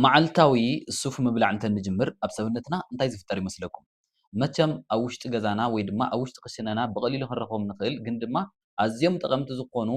መዓልታዊ ሱፍ ምብላዕ እንተ ንጅምር ኣብ ሰብነትና እንታይ ዝፍጠር ይመስለኩም? መቸም ኣብ ውሽጢ ገዛና ወይ ድማ ኣብ ውሽጢ ክሽነና ብቐሊሉ ክንረኽቦም ንኽእል ግን ድማ ኣዝዮም ጠቐምቲ ዝኾኑ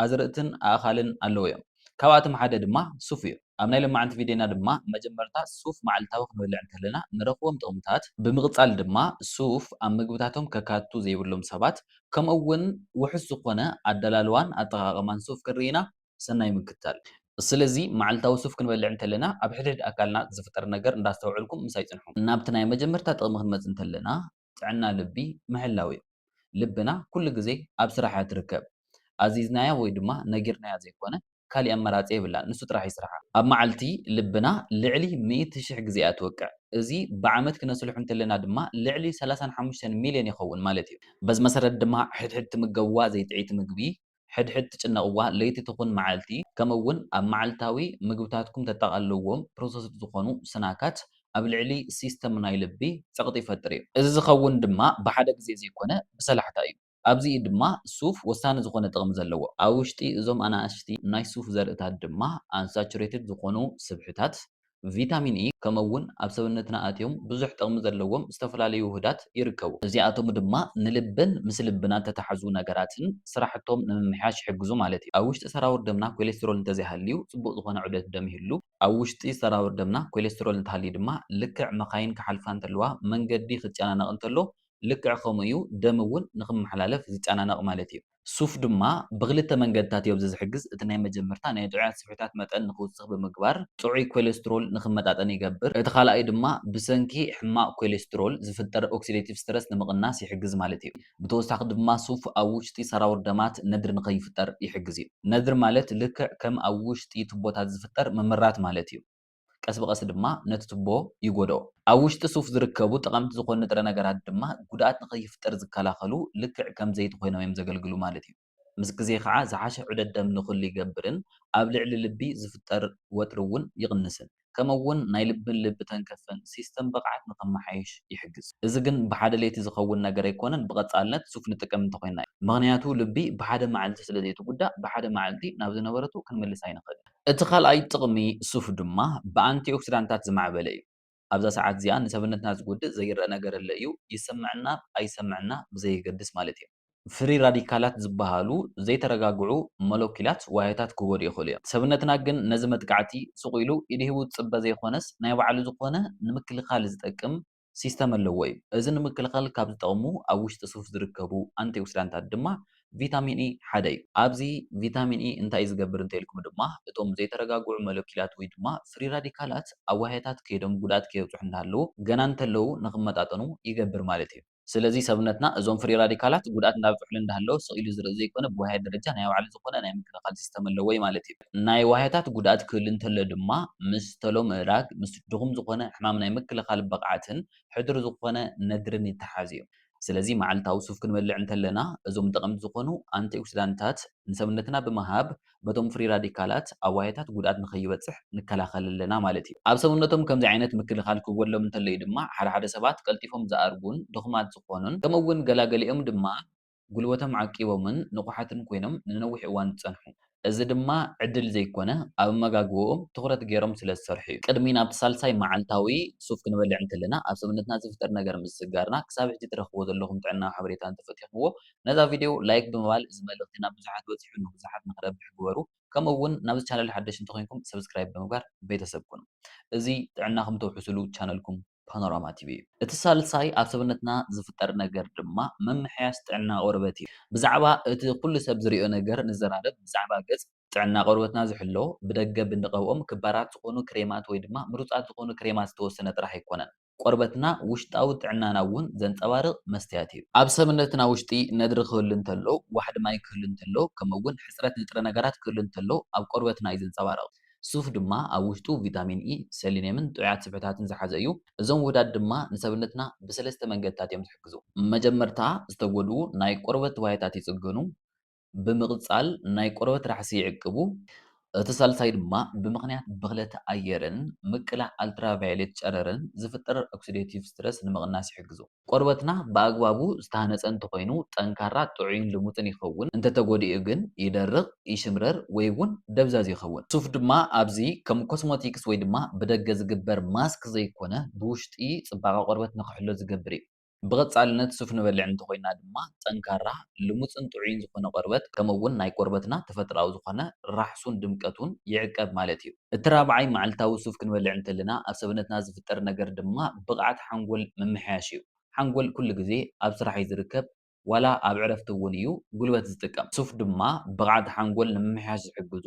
ኣዝርእትን ኣእኻልን ኣለዉ እዮም። ካብኣቶም ሓደ ድማ ሱፍ እዩ። ኣብ ናይ ሎማዓንቲ ቪድዮና ድማ መጀመርታ ሱፍ መዓልታዊ ክንበልዕ እንተለና ንረኽቦም ጥቕምታት፣ ብምቕጻል ድማ ሱፍ ኣብ ምግብታቶም ከካትቱ ዘይብሎም ሰባት ከምኡ እውን ውሑስ ዝኾነ ኣደላልዋን ኣጠቓቕማን ሱፍ ክንርኢ ኢና። ሰናይ ምክትታል። ስለዚ መዓልታዊ ሱፍ ክንበልዕ እንተለና ኣብ ሕድሕድ ኣካልና ዝፍጠር ነገር እንዳስተውዐልኩም ምሳይ ጽንሑ። ናብቲ ናይ መጀመርታ ጥቕሚ ክንመጽእ እንተለና ጥዕና ልቢ ምሕላው እዩ። ልብና ኩሉ ግዜ ኣብ ስራሕ እያ ትርከብ። ኣዚዝናያ ወይ ድማ ነጊርናያ ዘይኮነ ካሊእ ኣማራጺ የብላን ንሱ ጥራሕ ይስርሓ። ኣብ መዓልቲ ልብና ልዕሊ ሚእቲ ሽሕ ግዜ እያ ትወቅዕ። እዚ ብዓመት ክነስልሖ እንተለና ድማ ልዕሊ ሰላሳን ሓሙሽተን ሚልዮን ይኸውን ማለት እዩ። በዚ መሰረት ድማ ሕድሕድ ትምገብዋ ዘይጥዕይቲ ምግቢ ሕድሕድ ትጭነቕዋ ለይቲ ትኹን መዓልቲ፣ ከምኡ'ውን ኣብ መዓልታዊ ምግብታትኩም ተጠቓልልዎም ፕሮሰስድ ዝኾኑ ስናካት ኣብ ልዕሊ ሲስተም ናይ ልቢ ጸቕጢ ይፈጥር እዩ። እዚ ዝኸውን ድማ ብሓደ ግዜ ዘይኮነ ብሰላሕታ እዩ። ኣብዚ እዩ ድማ ሱፍ ወሳኒ ዝኾነ ጥቕሚ ዘለዎ። ኣብ ውሽጢ እዞም ኣናእሽቲ ናይ ሱፍ ዘርእታት ድማ ኣንሳቹሬትድ ዝኾኑ ስብሕታት፣ ቪታሚን ኢ ከምኡ እውን ኣብ ሰብነትና ኣትዮም ብዙሕ ጥቕሚ ዘለዎም ዝተፈላለዩ ውሁዳት ይርከቡ። እዚኣቶም ድማ ንልብን ምስ ልብና እተተሓዙ ነገራትን ስራሕቶም ንምምሕያሽ ይሕግዙ ማለት እዩ። ኣብ ውሽጢ ሰራውር ደምና ኮሌስትሮል እንተዘይሃልዩ ጽቡቕ ዝኾነ ዑደት ደም ይህሉ። ኣብ ውሽጢ ሰራውር ደምና ኮሌስትሮል እንተሃልዩ ድማ ልክዕ መካይን ክሓልፋ እንተለዋ መንገዲ ክጨናነቕ እንተሎ ልክዕ ከምኡ እዩ ደም እውን ንክመሓላለፍ ዝጨናነቕ ማለት እዩ። ሱፍ ድማ ብኽልተ መንገድታት ኢዮብዚ ዝሕግዝ፣ እቲ ናይ መጀመርታ ናይ ጥዑያት ስብሒታት መጠን ንኽውስኽ ብምግባር ጥዑይ ኮሌስትሮል ንኽመጣጠን ይገብር፣ እቲ ካልኣይ ድማ ብሰንኪ ሕማቕ ኮሌስትሮል ዝፍጠር ኦክሲደቲቭ ስትረስ ንምቕናስ ይሕግዝ ማለት ኢዩ። ብተወሳኺ ድማ ሱፍ ኣብ ውሽጢ ሰራውር ደማት ነድሪ ንኸይፍጠር ይሕግዝ ኢዩ። ነድሪ ማለት ልክዕ ከም ኣብ ውሽጢ ቱቦታት ዝፍጠር ምምራት ማለት ኢዩ። ቀስ ብቐስ ድማ ነቲ ቱቦ ይጎድኦ። ኣብ ውሽጢ ሱፍ ዝርከቡ ጠቐምቲ ዝኾኑ ንጥረ ነገራት ድማ ጉድኣት ንኸይፍጠር ዝከላኸሉ ልክዕ ከም ዘይቲ ኮይኖም እዮም ዘገልግሉ ማለት እዩ። ምስ ግዜ ከዓ ዝሓሸ ዑደት ደም ንክህሉ ይገብርን ኣብ ልዕሊ ልቢ ዝፍጠር ወጥሪ እውን ይቕንስን። ከምኡ እውን ናይ ልብን ልቢ ተንከፍን ሲስተም ብቕዓት ንኸመሓይሽ ይሕግዝ። እዚ ግን ብሓደ ለይቲ ዝኸውን ነገር ኣይኮነን ብቐፃልነት ሱፍ ንጥቀም እንተኾይንና እዩ። ምኽንያቱ ልቢ ብሓደ መዓልቲ ስለዘይትጉዳእ ብሓደ መዓልቲ ናብ ዝነበረቱ ክንምልሳ ኣይንኽእልን። እቲ ካልኣይ ጥቕሚ ሱፍ ድማ ብኣንቲኦክሲዳንታት ዝማዕበለ እዩ። ኣብዛ ሰዓት እዚኣ ንሰብነትና ዝጎድእ ዘይረኣ ነገር እለ እዩ፣ ይሰምዐና ኣይሰምዐና ብዘየገድስ ማለት እዩ። ፍሪ ራዲካላት ዝበሃሉ ዘይተረጋግዑ ሞለኲላት ዋህዮታት ክጎድኡ ይኽእሉ እዮም። ሰብነትና ግን ነዚ መጥቃዕቲ ሱቕ ኢሉ ኢድ ሂቡ ዝጽበ ዘይኮነስ ናይ ባዕሉ ዝኾነ ንምክልኻል ዝጠቅም ሲስተም ኣለዎ እዩ። እዚ ንምክልኻል ካብ ዝጠቕሙ ኣብ ውሽጢ ሱፍ ዝርከቡ ኣንቲኦክሲዳንታት ድማ ቪታሚን ኢ ሓደ እዩ። ኣብዚ ቪታሚን ኢ እንታይ እዩ ዝገብር እንተኢልኩም ድማ እቶም ዘይተረጋግዑ ሞለኪላት ወይ ድማ ፍሪ ራዲካላት ኣብ ዋህያታት ከይዶም ጉድኣት ከየብፅሑ እናሃለዉ ገና እንተለዉ ንኽመጣጠኑ ይገብር ማለት እዩ። ስለዚ ሰብነትና እዞም ፍሪ ራዲካላት ጉድኣት እንዳብፅሑሉ እንዳሃለወ ስቕ ኢሉ ዝርኢ ዘይኮነ ብዋህያት ደረጃ ናይ ባዕሉ ዝኾነ ናይ ምክልኻል ሲስተም ኣለዎ እዩ ማለት እዩ። ናይ ዋህዮታት ጉድኣት ክህሉ እንተሎ ድማ ምስ ተሎ ምእራግ፣ ምስ ድኹም ዝኾነ ሕማም ናይ ምክልኻል ብቕዓትን ሕዱር ዝኾነ ነድርን ይተሓሓዝ እዩ። ስለዚ መዓልታዊ ሱፍ ክንበልዕ እንተለና እዞም ጠቐምቲ ዝኾኑ ኣንቲኦክሲዳንትታት ንሰብነትና ብምሃብ ነቶም ፍሪ ራዲካላት ኣብ ዋህዮታት ጉድኣት ንከይበጽሕ ንከላኸል ኣለና ማለት እዩ። ኣብ ሰብነቶም ከምዚ ዓይነት ምክልኻል ክጎድሎም እንተሎ እዩ ድማ ሓደ ሓደ ሰባት ቀልጢፎም ዝኣርጉን ድኹማት ዝኾኑን ከምኡ እውን ገላገሊኦም ድማ ጉልበቶም ዓቂቦምን ንቑሓትን ኮይኖም ንነዊሕ እዋን ዝጸንሑ። እዚ ድማ ዕድል ዘይኮነ፣ ኣብ ኣመጋግባኦም ትኹረት ገይሮም ስለ ዝሰርሑ'ዩ። ቅድሚ ናብቲ ሳልሳይ መዓልታዊ ሱፍ ክንበልዕ እንከለና ኣብ ሰብነትና ዝፍጠር ነገር ምስዝጋርና፣ ክሳብ ሕጂ ትረኽብዎ ዘለኹም ጥዕናዊ ሓበሬታ እንተፈቲኽምዎ፣ ነዛ ቪድዮ ላይክ ብምባል እዚ መልእኽቲ ናብ ብዙሓት በጺሑ ንብዙሓት ንኽረብሕ ግበሩ። ከምኡ'ውን ናብዚ ቻነል ሓደሽቲ እንተኾይንኩም ሰብስክራይብ ብምግባር ቤተሰብ ኩኑ። እዚ ጥዕናኹም ተውሕሱሉ ቻነልኩም። ፓኖራማ ቲቪ እዩ። እቲ ሳልሳይ ኣብ ሰብነትና ዝፍጠር ነገር ድማ ምምሕያሽ ጥዕና ቆርበት እዩ። ብዛዕባ እቲ ኩሉ ሰብ ዝሪኦ ነገር ንዘራረብ፣ ብዛዕባ ገጽ፣ ጥዕና ቆርበትና ዝሕሎ፣ ብደገ ብንቐብኦም ክባራት ዝኾኑ ክሬማት ወይ ድማ ምሩጻት ዝኾኑ ክሬማት ዝተወሰነ ጥራሕ ኣይኮነን። ቆርበትና ውሽጣዊ ጥዕናና እውን ዘንጸባርቕ መስትያት እዩ። ኣብ ሰብነትና ውሽጢ ነድሪ ክህሉ እንተሎ፣ ዋሕዲ ማይ ክህሉ እንተሎ ከምኡ እውን ሕጽረት ንጥረ ነገራት ክህሉ እንተሎ ኣብ ቆርበትና እዩ ዝንጸባረቕ። ሱፍ ድማ ኣብ ውሽጡ ቪታሚን ኢ፣ ሰሊንየምን ጥዑያት ስብሕታትን ዝሓዘ እዩ። እዞም ውህዳት ድማ ንሰብነትና ብሰለስተ መንገድታት እዮም ዝሕግዙ። መጀመርታ ዝተጎድኡ ናይ ቆርበት ዋህዮታት ይጽግኑ። ብምቕጻል ናይ ቆርበት ራሕሲ ይዕቅቡ። እቲ ሳልሳይ ድማ ብምኽንያት ብኽለት ኣየርን ምቅላዕ ኣልትራቫዮሌት ጨረርን ዝፍጠር ኦክሲደቲቭ ስትረስ ንምቕናስ ይሕግዙ። ቆርበትና ብኣግባቡ ዝተሃነፀ እንተኾይኑ ጠንካራ፣ ጥዑይን ልሙፅን ይኸውን። እንተተጎዲኡ ግን ይደርቕ፣ ይሽምረር ወይ እውን ደብዛዝ ይኸውን። ሱፍ ድማ ኣብዚ ከም ኮስሞቲክስ ወይ ድማ ብደገ ዝግበር ማስክ ዘይኮነ ብውሽጢ ፅባቐ ቆርበት ንክሕሎ ዝገብር እዩ። ብቐፃልነት ሱፍ ንበልዕ እንተኾይንና ድማ ጠንካራ፣ ልሙፅን ጥዑይን ዝኾነ ቆርበት ከምኡ እውን ናይ ቆርበትና ተፈጥሮኣዊ ዝኾነ ራሕሱን ድምቀቱን ይዕቀብ ማለት እዩ። እቲ ራብዓይ መዓልታዊ ሱፍ ክንበልዕ እንተለና ኣብ ሰብነትና ዝፍጠር ነገር ድማ ብቕዓት ሓንጎል ምምሕያሽ እዩ። ሓንጎል ኩሉ ግዜ ኣብ ስራሕ እዩ ዝርከብ ዋላ ኣብ ዕረፍቲ እውን እዩ ጉልበት ዝጥቀም። ሱፍ ድማ ብቕዓት ሓንጎል ንምምሕያሽ ዝሕግዙ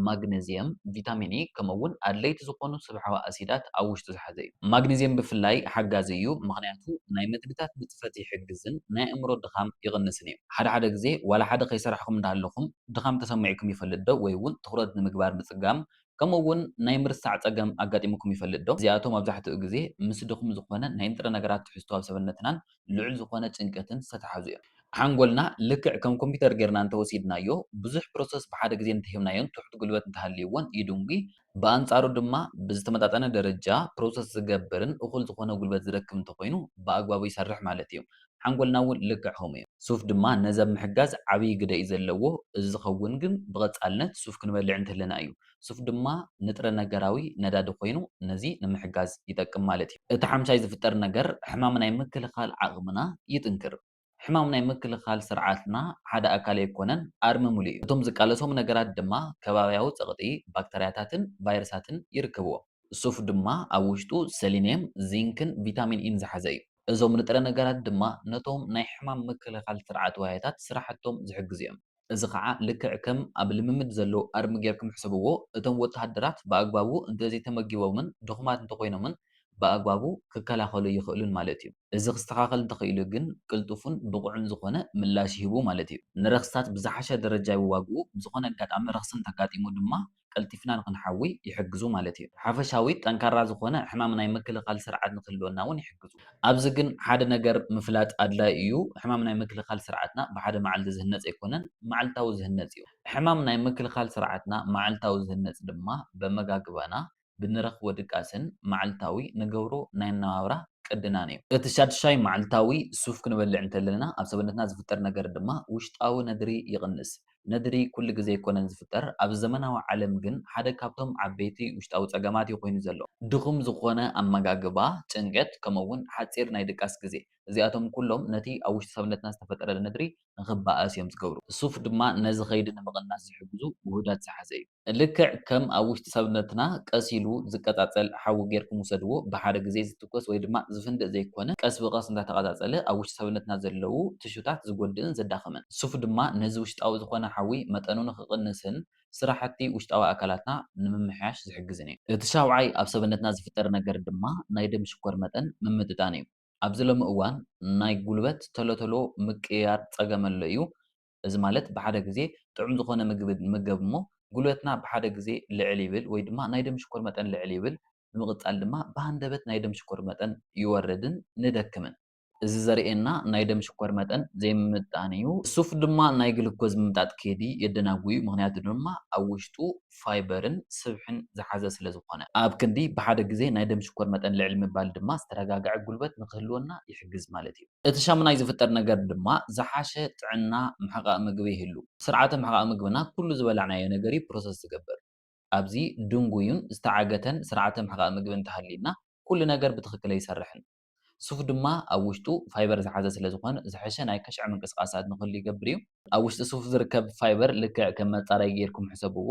ማግነዝየም፣ ቪታሚን ኢ ከምኡ እውን ኣድለይቲ ዝኾኑ ስብሓዊ ኣሲዳት ኣብ ውሽጡ ዝሓዘ እዩ። ማግነዝየም ብፍላይ ሓጋዚ እዩ ምኽንያቱ ናይ መግብታት ንጥፈት ይሕግዝን ናይ ኣእምሮ ድኻም ይቕንስን እዩ። ሓደ ሓደ ግዜ ዋላ ሓደ ከይሰራሕኹም እንዳ ሃለኹም ድኻም ተሰሚዑኩም ይፈልጥ ዶ ወይ እውን ትኹረት ንምግባር ምጽጋም ከምኡ እውን ናይ ምርሳዕ ጸገም ኣጋጢሙኩም ይፈልጥ ዶ? እዚኣቶም ኣብዛሕትኡ ግዜ ምስ ድኹም ዝኾነ ናይ ንጥረ ነገራት ትሕዝቶ ኣብ ሰበነትናን ልዑል ዝኾነ ጭንቀትን ዝተተሓዙ እዮም። ሓንጎልና ልክዕ ከም ኮምፒተር ጌርና እንተወሲድናዮ ብዙሕ ፕሮሰስ ብሓደ ግዜ እንተሂብናዮን ትሑት ጉልበት እንተሃልይዎን ይድንጒ፣ ብኣንጻሩ ድማ ብዝተመጣጠነ ደረጃ ፕሮሰስ ዝገብርን እኹል ዝኾነ ጉልበት ዝረክብ እንተኾይኑ ብኣግባቡ ይሰርሕ ማለት እዩ። ሓንጎልና እውን ልክዕ ከምኡ እዩ። ሱፍ ድማ ነዚ ኣብ ምሕጋዝ ዓብይ ግደ እዩ ዘለዎ። እዚ ዝኸውን ግን ብቐጻልነት ሱፍ ክንበልዕ እንተለና እዩ። ሱፍ ድማ ንጥረ ነገራዊ ነዳዲ ኮይኑ ነዚ ንምሕጋዝ ይጠቅም ማለት እዩ። እቲ ሓምሻይ ዝፍጠር ነገር ሕማም ናይ ምክልኻል ዓቕምና ይጥንክር። ሕማም ናይ ምክልኻል ስርዓትና ሓደ ኣካል ኣይኮነን፣ ኣርምምሉ እዩ። እቶም ዝቃለሶም ነገራት ድማ ከባብያዊ ጸቕጢ፣ ባክተርያታትን ቫይረሳትን ይርከብዎም። ሱፍ ድማ ኣብ ውሽጡ ሰሊንየም፣ ዚንክን ቪታሚን ኢን ዝሓዘ እዩ። እዞም ንጥረ ነገራት ድማ ነቶም ናይ ሕማም ምክልኻል ስርዓት ዋህዮታት ስራሕቶም ዝሕግዙ እዮም። እዚ ኸኣ ልክዕ ከም ኣብ ልምምድ ዘሎ ኣርሚ ጌርኩም ሕሰብዎ፣ እቶም ወተሃደራት ብኣግባቡ እንተዘይተመጊቦምን ድኹማት እንተኾይኖምን ብኣግባቡ ክከላኸሉ ኣይኽእሉን ማለት እዩ። እዚ ክስተኻኸል እንተኽኢሉ ግን ቅልጡፍን ብቑዕን ዝኾነ ምላሽ ይህቡ ማለት እዩ። ንረኽስታት ብዝሓሸ ደረጃ ይዋግኡ፣ ብዝኾነ ኣጋጣሚ ረኽሲ እንተኣጋጢሙ ድማ ቀልጢፍና ንኽንሓዊ ይሕግዙ ማለት እዩ። ሓፈሻዊ ጠንካራ ዝኾነ ሕማም ናይ ምክልኻል ስርዓት ንኽህልወና እውን ይሕግዙ። ኣብዚ ግን ሓደ ነገር ምፍላጥ ኣድላዪ እዩ፣ ሕማም ናይ ምክልኻል ስርዓትና ብሓደ መዓልቲ ዝህነፅ ኣይኮነን፣ መዓልታዊ ዝህነፅ እዩ። ሕማም ናይ ምክልኻል ስርዓትና መዓልታዊ ዝህነፅ ድማ በመጋግባና፣ ብንረኽቦ ድቃስን መዓልታዊ ንገብሮ ናይ ኣነባብራ ቅድናን እዩ። እቲ ሻድሻይ መዓልታዊ ሱፍ ክንበልዕ እንተለና ኣብ ሰበነትና ዝፍጠር ነገር ድማ ውሽጣዊ ነድሪ ይቕንስ። ነድሪ ኩሉ ግዜ ኣይኮነን ዝፍጠር፣ ኣብዚ ዘመናዊ ዓለም ግን ሓደ ካብቶም ዓበይቲ ውሽጣዊ ጸገማት እዩ ኮይኑ ዘሎ። ድኹም ዝኾነ ኣመጋግባ፣ ጭንቀት፣ ከምኡ'ውን ሓጺር ናይ ድቃስ ግዜ፣ እዚኣቶም ኩሎም ነቲ ኣብ ውሽጢ ሰብነትና ዝተፈጠረ ነድሪ ንኽባኣስ እዮም ዝገብሩ። ሱፍ ድማ ነዚ ከይዲ ንምቕናስ ዝሕግዙ ውሁዳት ዝሓዘ እዩ። ልክዕ ከም ኣብ ውሽጢ ሰብነትና ቀስ ኢሉ ዝቀጻጸል ሓዊ ጌርኩም ውሰድዎ፣ ብሓደ ግዜ ዝትኮስ ወይ ድማ ዝፍንድእ ዘይኮነ፣ ቀስ ብቐስ እንዳተቐጻጸለ ኣብ ውሽጢ ሰብነትና ዘለዉ ትሹታት ዝጎድእን ዘዳኽምን። ሱፍ ድማ ነዚ ውሽጣዊ ዝኾነ ሓዊ መጠኑ ንኽቕንስን ስራሕቲ ውሽጣዊ ኣካላትና ንምምሕያሽ ዝሕግዝን እዩ። እቲ ሻውዓይ ኣብ ሰብነትና ዝፍጠር ነገር ድማ ናይ ደም ሽኮር መጠን ምምጥጣን እዩ። ኣብዚ ሎሚ እዋን ናይ ጉልበት ተሎ ተሎ ምቅይያር ጸገም ኣሎ እዩ፣ እዚ ማለት ብሓደ ግዜ ጥዑም ዝኾነ ምግቢ ንመገብ እሞ ጉልበትና ብሓደ ግዜ ልዕል ይብል ወይ ድማ ናይ ደም ሽኮር መጠን ልዕል ይብል ብምቕጻል ድማ ብሃንደበት ናይ ደም ሽኮር መጠን ይወርድን ንደክምን። እዚ ዘርእየና ናይ ደም ሽኮር መጠን ዘይምምጥጣን እዩ። ሱፍ ድማ ናይ ግሉኮዝ ምምጣጥ ከይዲ የደናጉ እዩ ምኽንያቱ ድማ ኣብ ውሽጡ ፋይበርን ስብሕን ዝሓዘ ስለ ዝኾነ። ኣብ ክንዲ ብሓደ ግዜ ናይ ደም ሽኮር መጠን ልዕል ምባል ድማ ዝተረጋግዐ ጉልበት ንኽህልወና ይሕግዝ ማለት እዩ። እቲ ሻሙናይ ዝፍጠር ነገር ድማ ዝሓሸ ጥዕና ምሕቓቕ ምግቢ ይህሉ። ስርዓተ ምሕቓቕ ምግብና ኩሉ ዝበላዕናዮ ነገር እዩ ፕሮሰስ ዝገብር። ኣብዚ ድንጉዩን ዝተዓገተን ስርዓተ ምሕቓቕ ምግቢ እንተሃልዩና ኩሉ ነገር ብትኽክል ኣይሰርሕን። ሱፍ ድማ ኣብ ውሽጡ ፋይበር ዝሓዘ ስለ ዝኾን ዝሐሸ ናይ ከሽዐ ምንቅስቓሳት ንክህሉ ይገብር እዩ። ኣብ ውሽጢ ሱፍ ዝርከብ ፋይበር ልክዕ ከም መፃረይ ገይርኩም ሕሰብዎ።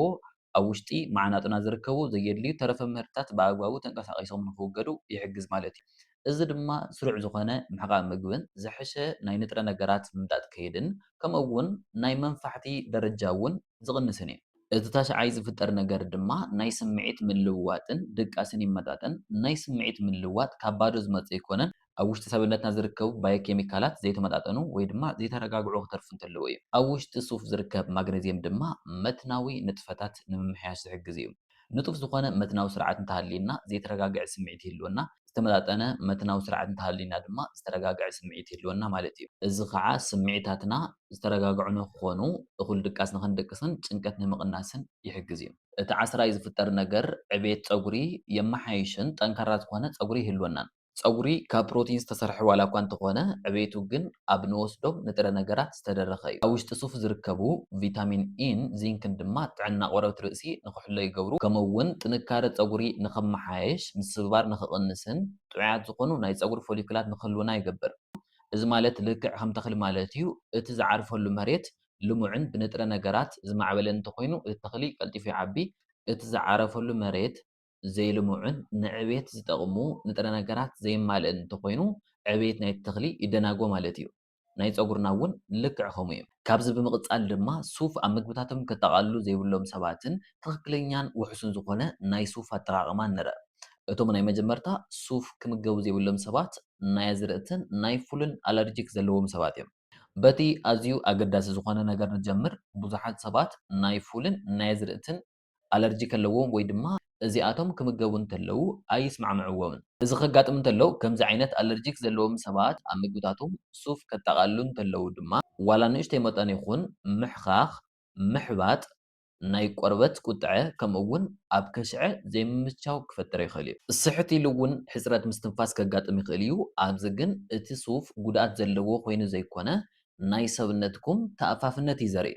ኣብ ውሽጢ ማዕናጡና ዝርከቡ ዘየድልዩ ተረፈ ምህርትታት ብኣግባቡ ተንቀሳቒሶም ንኽውገዱ ይሕግዝ ማለት እዩ። እዚ ድማ ስሩዕ ዝኾነ ምሕቓቕ ምግብን ዝሐሸ ናይ ንጥረ ነገራት ምምጣጥ ከይድን ከምኡ እውን ናይ መንፋሕቲ ደረጃ እውን ዝቕንስን እዩ። እቲ ታሽዓይ ዝፍጠር ነገር ድማ ናይ ስምዒት ምልውዋጥን ድቃስን ይመጣጠን። ናይ ስምዒት ምልውዋጥ ካብ ባዶ ዝመፅእ ኣይኮነን። ኣብ ውሽጢ ሰብነትና ዝርከቡ ባዮኬሚካላት ዘይተመጣጠኑ ወይ ድማ ዘይተረጋግዑ ክተርፉ እንተለዉ እዩ። ኣብ ውሽጢ ሱፍ ዝርከብ ማግነዝየም ድማ መትናዊ ንጥፈታት ንምምሕያሽ ዝሕግዝ እዩ። ንጡፍ ዝኾነ መትናዊ ስርዓት እንተሃልዩና ዘይተረጋግዐ ስምዒት ይህልወና፣ ዝተመጣጠነ መትናዊ ስርዓት እንተሃልዩና ድማ ዝተረጋግዐ ስምዒት ይህልወና ማለት እዩ። እዚ ከዓ ስምዒታትና ዝተረጋግዑ ንክኾኑ፣ እኹል ድቃስ ንክንድቅስን ጭንቀት ንምቕናስን ይሕግዝ እዩ። እቲ ዓስራይ ዝፍጠር ነገር ዕቤት ፀጉሪ የመሓይሽን ጠንካራ ዝኾነ ፀጉሪ ይህልወናን። ጸጉሪ ካብ ፕሮቲን ዝተሰርሐ ዋላኳ እንተኾነ ዕቤቱ ግን ኣብ ንወስዶም ንጥረ ነገራት ዝተደረኸ እዩ። ኣብ ውሽጢ ሱፍ ዝርከቡ ቪታሚን ኢን ዚንክን ድማ ጥዕና ቆርበት ርእሲ ንኽሕሎ ይገብሩ ከምኡ'ውን ጥንካረ ጸጉሪ ንኽመሓየሽ፣ ምስብባር ንኽቕንስን ጥዑያት ዝኾኑ ናይ ጸጉሪ ፎሊክላት ንኽህልዉና ይገብር። እዚ ማለት ልክዕ ከም ተኽሊ ማለት እዩ፣ እቲ ዝዓርፈሉ መሬት ልሙዕን ብንጥረ ነገራት ዝማዕበለን እንተኾይኑ እቲ ተኽሊ ቀልጢፉ ይዓቢ፣ እቲ ዝዓረፈሉ መሬት። ዘይልሙዕን ንዕብየት ዝጠቕሙ ንጥረ ነገራት ዘየማልእን እንተኾይኑ ዕብየት ናይቲ ተኽሊ ይደናጎ ማለት እዩ። ናይ ፀጉርና እውን ልክዕ ከምኡ እዩ። ካብዚ ብምቕፃል ድማ ሱፍ ኣብ ምግብታቶም ከጠቓልሉ ዘይብሎም ሰባትን ትኽክለኛን ውሑስን ዝኾነ ናይ ሱፍ ኣጠቓቕማን ንርእ። እቶም ናይ መጀመርታ ሱፍ ክምገቡ ዘይብሎም ሰባት ናይ ኣዝርእትን ናይ ፉልን ኣለርጂክ ዘለዎም ሰባት እዮም። በቲ ኣዝዩ ኣገዳሲ ዝኾነ ነገር ንጀምር፣ ብዙሓት ሰባት ናይ ፉልን ናይ ኣዝርእትን ኣለርጂ ከለዎም ወይ ድማ እዚኣቶም ክምገቡ እንተለዉ ኣይስማዕምዕዎምን። እዚ ከጋጥም እንተሎ፣ ከምዚ ዓይነት ኣለርጂክ ዘለዎም ሰባት ኣብ ምግብታቶም ሱፍ ከጠቓልሉ እንተለዉ ድማ፣ ዋላ ንእሽተይ መጠን ይኹን ምሕኻኽ፣ ምሕባጥ፣ ናይ ቆርበት ቁጥዐ ከምኡ'ውን ኣብ ከሽዐ ዘይምምችቻው ክፈጥር ይኽእል እዩ። ስሕት ኢሉ እውን ሕጽረት ምስትንፋስ ከጋጥም ይኽእል እዩ። ኣብዚ ግን እቲ ሱፍ ጉድኣት ዘለዎ ኮይኑ ዘይኮነ፣ ናይ ሰብነትኩም ተኣፋፍነት እዩ ዘርኢ።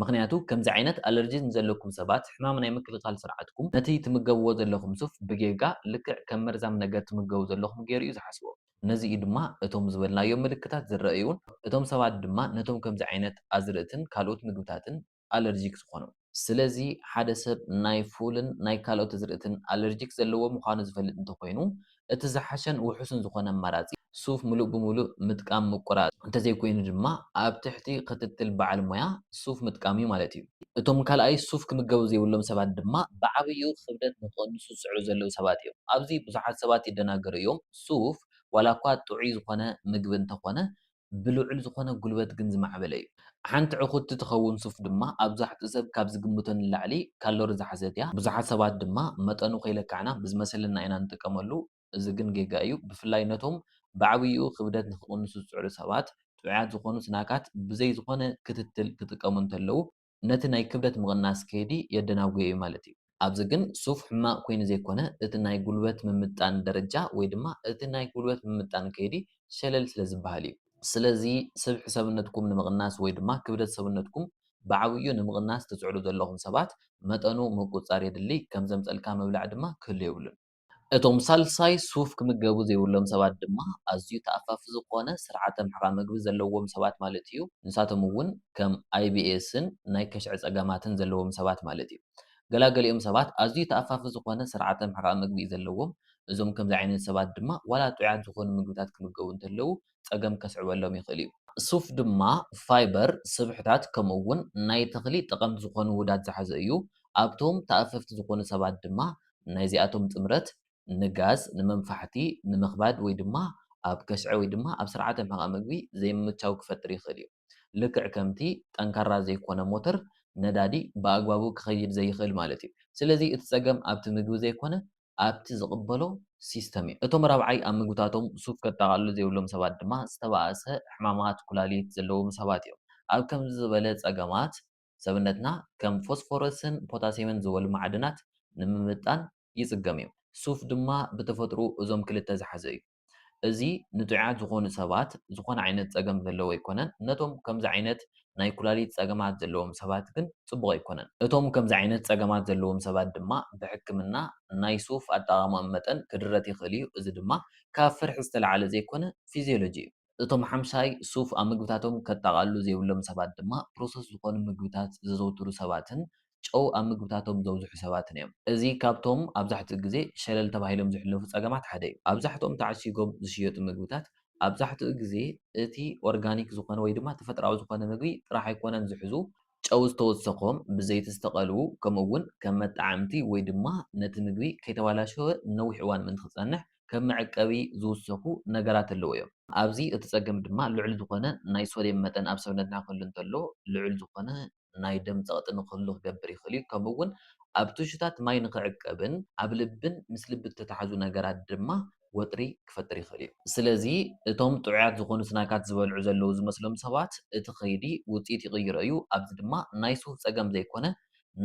ምኽንያቱ ከምዚ ዓይነት ኣለርጂ ንዘለኩም ሰባት ሕማም ናይ ምክልኻል ስርዓትኩም ነቲ ትምገብዎ ዘለኹም ሱፍ ብጌጋ ልክዕ ከም መርዛም ነገር ትምገቡ ዘለኹም ጌሩ እዩ ዝሓስቦ። ነዚ እዩ ድማ እቶም ዝበልናዮም ምልክታት ዝረኣዩን እቶም ሰባት ድማ ነቶም ከምዚ ዓይነት ኣዝርእትን ካልኦት ምግብታትን ኣለርጂክ ዝኾኖም። ስለዚ ሓደ ሰብ ናይ ፉልን ናይ ካልኦት ኣዝርእትን ኣለርጂክ ዘለዎ ምዃኑ ዝፈልጥ እንተኾይኑ እቲ ዝሓሸን ውሑስን ዝኾነ ኣማራጺ፣ ሱፍ ምሉእ ብምሉእ ምጥቃም ምቁራጽ፣ እንተዘይኮይኑ ድማ ኣብ ትሕቲ ክትትል በዓል ሞያ ሱፍ ምጥቃም'ዩ ማለት'ዩ። እቶም ካልኣይ ሱፍ ክምገቡ ዘይብሎም ሰባት ድማ ብዓብይኡ ክብደት ንክቕንሱ ዝጽዕሩ ዘለዉ ሰባት'ዮም። ኣብዚ ብዙሓት ሰባት ይደናገሩ እዮም፣ ሱፍ ዋላኳ ጥዑይ ዝኾነ ምግቢ እንተኾነ ብልዑል ዝኾነ ጉልበት ግን ዝማዕበለ እዩ። ሓንቲ ዕኹቲ ትኸውን ሱፍ ድማ ኣብዛሕትኡ ሰብ ካብ ዝግምቶ ንላዕሊ ካሎሪ ዝሓዘት እያ። ብዙሓት ሰባት ድማ መጠኑ ከይለካዕና ብዝመሰለና ኢና ንጥቀመሉ፣ እዚ ግን ጌጋ እዩ። ብፍላይ ነቶም ብዓብይኡ ክብደት ንክቕንሱ ዝጽዕሩ ሰባት፣ ጥዑያት ዝኾኑ ስናካት ብዘይ ዝኾነ ክትትል ክጥቀሙ እንተለዉ፣ ነቲ ናይ ክብደት ምቕናስ ከይዲ የደናጉዮ እዩ ማለት እዩ። ኣብዚ ግን ሱፍ ሕማቕ ኮይኑ ዘይኮነ እቲ ናይ ጉልበት ምምጣን ደረጃ ወይ ድማ እቲ ናይ ጉልበት ምምጣን ከይዲ ሸለል ስለ ዝበሃል እዩ። ስለዚ ስብሒ ሰብነትኩም ንምቕናስ ወይ ድማ ክብደት ሰብነትኩም ብዓብይኡ ንምቕናስ ትፅዕሩ ዘለኹም ሰባት መጠኑ ምቁፅፃር የድሊ፣ ከም ዘምፀልካ ምብላዕ ድማ ክህሉ የብሉን። እቶም ሳልሳይ ሱፍ ክምገቡ ዘይብሎም ሰባት ድማ ኣዝዩ ተኣፋፊ ዝኾነ ስርዓተ ምሕቓን መግቢ ዘለዎም ሰባት ማለት እዩ። ንሳቶም እውን ከም ኣይቢኤስን ናይ ከሽዐ ጸገማትን ዘለዎም ሰባት ማለት እዩ። ገላገሊኦም ሰባት ኣዝዩ ተኣፋፊ ዝኾነ ስርዓተ ምሕቓን መግቢ እዩ ዘለዎም። እዞም ከምዚ ዓይነት ሰባት ድማ ዋላ ጥዑያት ዝኾኑ ምግብታት ክምገቡ እንተለዉ ጸገም ከስዕበሎም ይኽእል እዩ። ሱፍ ድማ ፋይበር፣ ስብሕታት ከምኡ'ውን ናይ ተኽሊ ጠቐምቲ ዝኾኑ ውሁዳት ዝሓዘ እዩ። ኣብቶም ተኣፈፍቲ ዝኾኑ ሰባት ድማ ናይዚኣቶም ጥምረት ንጋዝ፣ ንመንፋሕቲ፣ ንምኽባድ ወይ ድማ ኣብ ከሽዐ ወይ ድማ ኣብ ስርዓተ ምሕቓቕ መግቢ ዘይምምቻው ክፈጥር ይኽእል እዩ። ልክዕ ከምቲ ጠንካራ ዘይኮነ ሞተር ነዳዲ ብኣግባቡ ክኸይድ ዘይኽእል ማለት እዩ። ስለዚ እቲ ጸገም ኣብቲ ምግቢ ዘይኮነ ኣብቲ ዝቕበሎ ሲስተም እዩ። እቶም ራብዓይ ኣብ ምግብታቶም ሱፍ ከጠቓልሉ ዘይብሎም ሰባት ድማ ዝተባእሰ ሕማማት ኩላሊት ዘለዎም ሰባት እዮም። ኣብ ከምዚ ዝበለ ጸገማት፣ ሰብነትና ከም ፎስፎረስን ፖታስየምን ዝበሉ ማዕድናት ንምምጥጣን ይጽገም እዩ። ሱፍ ድማ ብተፈጥርኡ እዞም ክልተ ዝሓዘ እዩ። እዚ ንጡዓት ዝኾኑ ሰባት ዝኾነ ዓይነት ጸገም ዘለዎ ኣይኮነን ነቶም ከምዚ ዓይነት ናይ ኩላሊት ጸገማት ዘለዎም ሰባት ግን ጽቡቕ ኣይኮነን። እቶም ከምዚ ዓይነት ጸገማት ዘለዎም ሰባት ድማ ብሕክምና ናይ ሱፍ ኣጠቓቕማኦም መጠን ክድረት ይኽእል እዩ እዚ ድማ ካብ ፍርሒ ዝተለዓለ ዘይኮነ ፊዝዮሎጂ እዩ። እቶም ሓምሻይ ሱፍ ኣብ ምግብታቶም ከጠቓልሉ ዘይብሎም ሰባት ድማ ፕሮሰስ ዝኾኑ ምግብታት ዘዘውትሩ ሰባትን ጨው ኣብ ምግብታቶም ዘብዝሑ ሰባትን እዮም። እዚ ካብቶም ኣብዛሕትኡ ግዜ ሸለል ተባሂሎም ዝሕለፉ ጸገማት ሓደ እዩ። ኣብዛሕትኦም ተዓሺጎም ዝሽየጡ ምግብታት ኣብዛሕትኡ ግዜ እቲ ኦርጋኒክ ዝኾነ ወይ ድማ ተፈጥሮኣዊ ዝኾነ ምግቢ ጥራሕ ኣይኮነን ዝሕዙ፣ ጨው ዝተወሰኾም፣ ብዘይቲ ዝተቐልዉ፣ ከምኡ እውን ከም መጠዓዕምቲ ወይ ድማ ነቲ ምግቢ ከይተባላሸወ ንነዊሕ እዋን ምእንቲ ክጸንሕ ከም መዕቀቢ ዝውሰኹ ነገራት ኣለዉ እዮም። ኣብዚ እቲ ጸገም ድማ ልዑል ዝኾነ ናይ ሶድየም መጠን ኣብ ሰብነትና ክህሉ እንተሎ ልዑል ዝኾነ ናይ ደም ጸቕጢ ንኽህሉ ክገብር ይኽእል እዩ፣ ከምኡ'ውን ኣብ ቱሹታት ማይ ንኽዕቀብን ኣብ ልብን ምስ ልቢ እተታሕዙ ነገራት ድማ ወጥሪ ክፈጥር ይኽእል እዩ። ስለዚ፣ እቶም ጥዑያት ዝዀኑ ስናካት ዝበልዑ ዘለዉ ዝመስሎም ሰባት እቲ ከይዲ ውጽኢት ይቕይሮ እዩ፣ ኣዚ ድማ ናይ ሱፍ ጸገም ዘይኰነ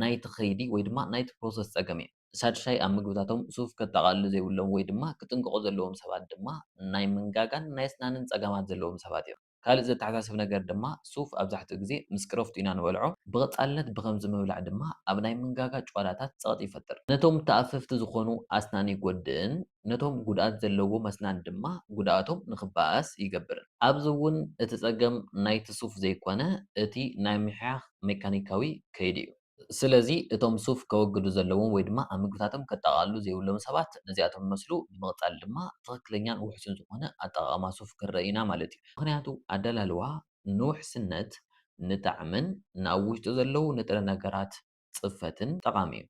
ናይቲ ከይዲ ወይ ድማ ናይቲ ፕሮሰስ ጸገም እዩ። ሳድሻይ፣ ኣብ ምግብታቶም ሱፍ ከጠቓልሉ ዘይብሎም ወይ ድማ ክጥንቀቑ ዘለዎም ሰባት ድማ ናይ መንጋጋን ናይ ኣስናንን ጸገማት ዘለዎም ሰባት እዮም። ካልእ ዘተሓሳስብ ነገር ድማ ሱፍ ኣብዛሕትኡ ግዜ ምስ ቅረፍቱ ኢና ንበልዖ፣ ብቐጻልነት ብኸምዚ ምብላዕ ድማ ኣብ ናይ ምንጋጋ ጭዋዳታት ጸቕጢ ይፈጥር። ነቶም ተኣፈፍቲ ዝኾኑ ኣስናን ይጎድእን ነቶም ጉድኣት ዘለዎም ኣስናን ድማ ጉድኣቶም ንኽበኣስ ይገብርን። ኣብዚ እውን እቲ ጸገም ናይቲ ሱፍ ዘይኮነ እቲ ናይ ምሕያኽ ሜካኒካዊ ከይዲ'ዩ። ስለዚ እቶም ሱፍ ከወግዱ ዘለዎም ወይ ድማ ኣብ ምግብታቶም ከጠቓልሉ ዘይብሎም ሰባት ነዚኣቶም ይመስሉ፣ ብምቕጻል ድማ ትኽክለኛን ውሕሱን ዝኾነ ኣጠቓቕማ ሱፍ ክንርኢ ኢና ማለት እዩ። ምኽንያቱ ኣደላልዋ ንውሕስነት፣ ንጣዕምን ንኣብ ውሽጡ ዘለዉ ንጥረ ነገራት ጽፈትን ጠቓሚ እዩ።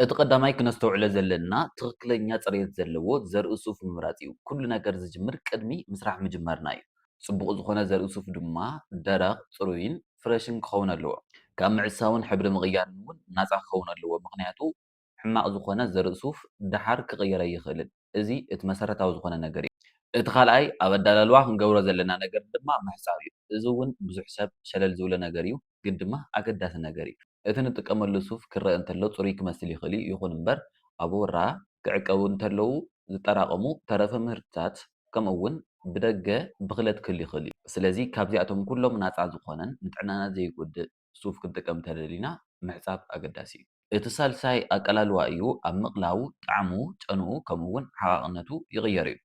እቲ ቀዳማይ ክነስተውዕሎ ዘለና ትኽክለኛ ፅሬት ዘለዎ ዘርኢ ሱፍ ምምራፅ እዩ። ኩሉ ነገር ዝጅምር ቅድሚ ምስራሕ ምጅማርና እዩ። ፅቡቕ ዝኾነ ዘርኢ ሱፍ ድማ ደረቕ፣ ፅሩይን ፍረሽን ክኸውን ኣለዎ። ካብ ምዕሳውን ሕብሪ ምቕያርን እውን ናፃ ክኸውን ኣለዎ ምኽንያቱ ሕማቕ ዝኾነ ዘርኢ ሱፍ ደሓር ክቕየር ኣይኽእልን። እዚ እቲ መሰረታዊ ዝኾነ ነገር እዩ። እቲ ካልኣይ ኣብ ኣዳላልዋ ክንገብሮ ዘለና ነገር ድማ ምሕፃብ እዩ። እዚ እውን ብዙሕ ሰብ ሸለል ዝብሎ ነገር እዩ ግን ድማ ኣገዳሲ ነገር እዩ። እቲ ንጥቀመሉ ሱፍ ክረኣ እንተሎ ጽሩይ ክመስል ይኽእል እዩ፣ ይኹን እምበር ኣብ ሁራ ክዕቀቡ እንተለዉ ዝጠራቐሙ ተረፈ ምህርትታት ከምኡ'ውን ብደገ ብኽለት ክህሉ ይኽእል እዩ። ስለዚ ካብዚኣቶም ኩሎም ናጻ ዝኾነን ንጥዕናና ዘይጎድእ ሱፍ ክንጥቀም እንተደሊና ምሕጻብ ኣገዳሲ እዩ። እቲ ሳልሳይ ኣቀላልዋ እዩ፣ ኣብ ምቕላው፣ ጣዕሙ፣ ጨንኡ ከምኡ'ውን ዓቓቕነቱ ይቕየር እዩ።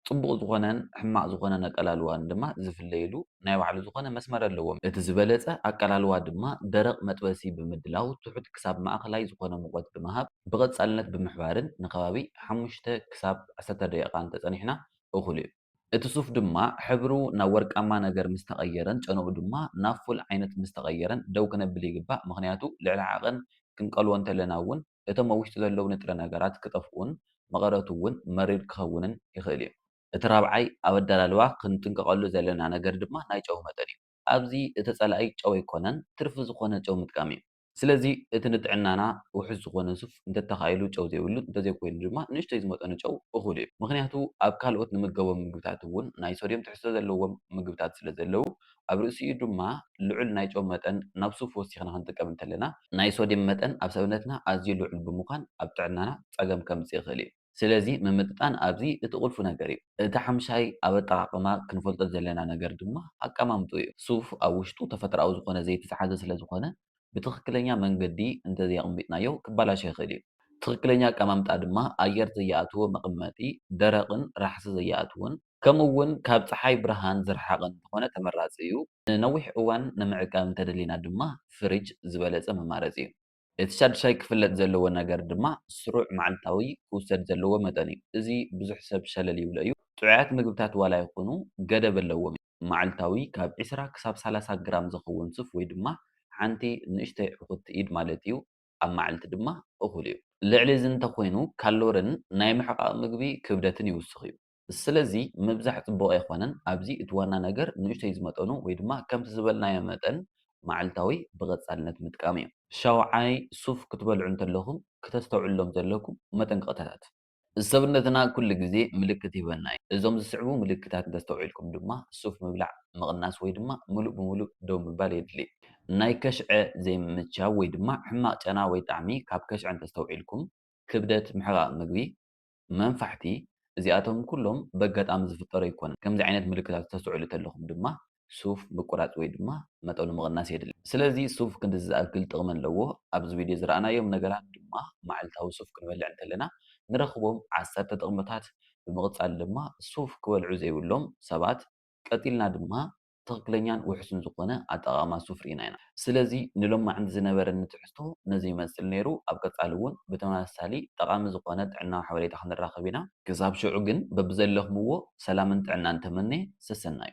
ጽቡቕ ዝኾነን ሕማቕ ዝኾነን ኣቀላልዋን ድማ ዝፍለዩሉ ናይ ባዕሉ ዝኾነ መስመር ኣለዎም። እቲ ዝበለጸ ኣቀላልዋ ድማ ደረቕ መጥበሲ ብምድላው ትሑት ክሳብ ማእከላይ ዝኾነ ሙቐት ብምሃብ ብቐጻልነት ብምሕባርን ንከባቢ ሓሙሽተ ክሳብ ዓሰርተ ደቂቓ እንተጸኒሕና እኹል እዩ። እቲ ሱፍ ድማ ሕብሩ ናብ ወርቃማ ነገር ምስ ተቐየረን ጨንኡ ድማ ናብ ፉል ዓይነት ምስ ተቐየረን ደው ክነብል ይግባእ ምኽንያቱ ልዕሊ ዓቐን ክንቀልዎ እንተለና እውን እቶም ኣብ ውሽጢ ዘለዉ ንጥረ ነገራት ክጠፍኡን መቐረቱ እውን መሪር ክኸውንን ይኽእል እዩ። እቲ ራብዓይ ኣብ ኣደላልዋ ክንጥንቀቐሉ ዘለና ነገር ድማ ናይ ጨው መጠን እዩ። ኣብዚ እቲ ጸላኢ ጨው ኣይኮነን ትርፊ ዝኾነ ጨው ምጥቃም እዩ። ስለዚ እቲ ንጥዕናና ውሑስ ዝኾነ ሱፍ እንተተኻኢሉ ጨው ዘይብሉ እንተዘይኮይኑ ድማ ንእሽቶይ ዝመጠኑ ጨው እኹል እዩ። ምኽንያቱ ኣብ ካልኦት ንምገቦም ምግብታት እውን ናይ ሶድዮም ትሕዝቶ ዘለዎም ምግብታት ስለዘለዉ ኣብ ርእሲኡ ድማ ልዑል ናይ ጨው መጠን ናብ ሱፍ ወሲኽና ክንጥቀም እንተለና፣ ናይ ሶድየም መጠን ኣብ ሰብነትና ኣዝዩ ልዑል ብምዃን ኣብ ጥዕናና ጸገም ከምጽእ ይኽእል እዩ። ስለዚ ምምጥጣን ኣብዚ እቲ ቁልፊ ነገር እዩ። እቲ ሓምሻይ ኣብ ኣጠቓቕማ ክንፈልጦ ዘለና ነገር ድማ ኣቀማምጥኡ እዩ። ሱፍ ኣብ ውሽጡ ተፈጥሮኣዊ ዝኾነ ዘይቲ ዝሓዘ ስለዝኾነ ብትኽክለኛ መንገዲ እንተዘየቕሚጥናዮ ክበላሾ ይኽእል እዩ። ትኽክለኛ ኣቀማምጣ ድማ ኣየር ዘየኣትዎ መቐመጢ፣ ደረቕን ራሕሲ ዘየኣትዎን፣ ከምኡ እውን ካብ ፀሓይ ብርሃን ዝረሓቐ እንተኾነ ተመራፂ እዩ። ንነዊሕ እዋን ንምዕቃብ እንተደሊና ድማ ፍሪጅ ዝበለፀ መማረፂ እዩ። እቲ ሻዱሻይ ክፍለጥ ዘለዎ ነገር ድማ ስሩዕ መዓልታዊ ክውሰድ ዘለዎ መጠን እዩ። እዚ ብዙሕ ሰብ ሸለል ይብሎ እዩ። ጥዑያት ምግብታት ዋላ ይኹኑ ገደብ ኣለዎም እዮም። መዓልታዊ ካብ ዕስራ ክሳብ ሰላሳ ግራም ዝኸውን ሱፍ ወይ ድማ ሓንቲ ንእሽተይ ዕኹቲ ኢድ ማለት እዩ ኣብ መዓልቲ ድማ እኹል እዩ። ልዕሊ እዚ እንተኾይኑ ካሎሪን ናይ ምሕቓቕ ምግቢ ክብደትን ይውስኽ እዩ። ስለዚ ምብዛሕ ጽቡቕ ኣይኮነን፣ ኣብዚ እቲ ዋና ነገር ንእሽቶይ ዝመጠኑ ወይ ድማ ከምቲ ዝበልናዮ መጠን መዓልታዊ ብቐጻልነት ምጥቃም እዩ። ሻውዓይ፣ ሱፍ ክትበልዑ እንተለኹም ክተስተውዕሉሎም ዘለኩም መጠንቀቕታታት። ሰብነትና ኩሉ ግዜ ምልክት ይህበና እዩ፣ እዞም ዝስዕቡ ምልክታት እንተስተውዒልኩም ድማ ሱፍ ምብላዕ ምቕናስ ወይ ድማ ምሉእ ብምሉእ ደው ምባል የድሊ። ናይ ከሽዐ ዘይምምቻው ወይ ድማ ሕማቕ ጨና ወይ ጣዕሚ ካብ ከሽዐ እንተስተውዒልኩም። ክብደት፣ ምሕቓቕ ምግቢ፣ መንፋሕቲ እዚኣቶም ኩሎም በጋጣሚ ዝፍጠሩ ኣይኮኑን። ከምዚ ዓይነት ምልክታት ክተስተውዕሉ ተለኹም ድማ ሱፍ ምቁራጽ ወይ ድማ መጠኑ ምቕናስ የድሊ። ስለዚ ሱፍ ክንድዚ ዝኣክል ጥቕሚ ኣለዎ። ኣብዚ ቪድዮ ዝረኣናዮም ነገራት ድማ መዓልታዊ ሱፍ ክንበልዕ እንተለና ንረኽቦም ዓሰርተ ጥቕምታት ብምቕጻል ድማ ሱፍ ክበልዑ ዘይብሎም ሰባት ቀጺልና ድማ ትኽክለኛን ውሑስን ዝኾነ ኣጠቓቕማ ሱፍ ርኢና ኢና። ስለዚ ንሎማዕንቲ ዝነበረኒ ትሕዝቶ ነዚ ይመስል ነይሩ፣ ኣብ ቀፃሊ እውን ብተመሳሳሊ ጠቓሚ ዝኾነ ጥዕናዊ ሓበሬታ ክንራኸብ ኢና። ክሳብ ሽዑ ግን በብዘለኽምዎ ሰላምን ጥዕናን ተመንየ፣ ሰሰናዩ።